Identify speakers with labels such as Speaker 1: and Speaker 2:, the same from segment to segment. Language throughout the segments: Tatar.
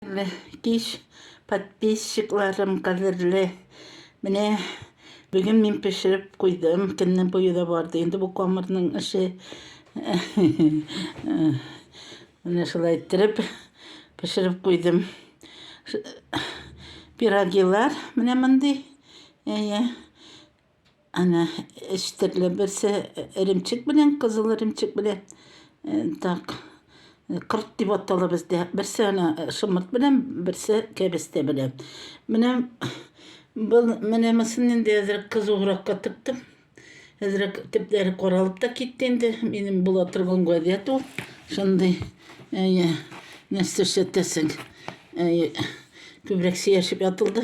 Speaker 1: Хәерле кич, подписчикларым кадерле. Менә бүген мин пешереп куйдым. Көнне буе да барды инде бу камырның эше. Менә шулай иттереп пешереп куйдым. Пирогилар менә мондый. Әйе. Әнә өч төрле берсе эремчек белән, кызыл эремчек белән. Э, так. Кырт дип атала бездә. Берсе ана э, шымырт белән, берсе кәбестә белән. Менә был менә мысын инде әзер кызугракка тыптым. Әзер төпләре каралып та китте инде. Минем була торган гадәт ул. Шундый әйе, нәрсә эшләтәсең? Әйе, күбрәк сөяшеп ятылды.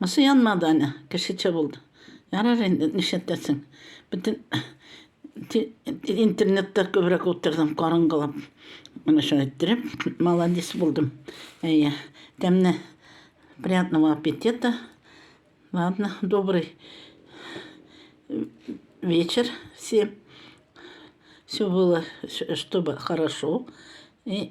Speaker 1: Монысы янмады әле, кешечә булды. Ярар инде, нишләтәсең. Бөтен интернетта күбрәк утырдым, караңгылап. Менә шулай иттереп, молодец булдым. Әйе, тәмне. Приятного аппетита. Ладно, добрый вечер всем. Все было, чтобы хорошо. И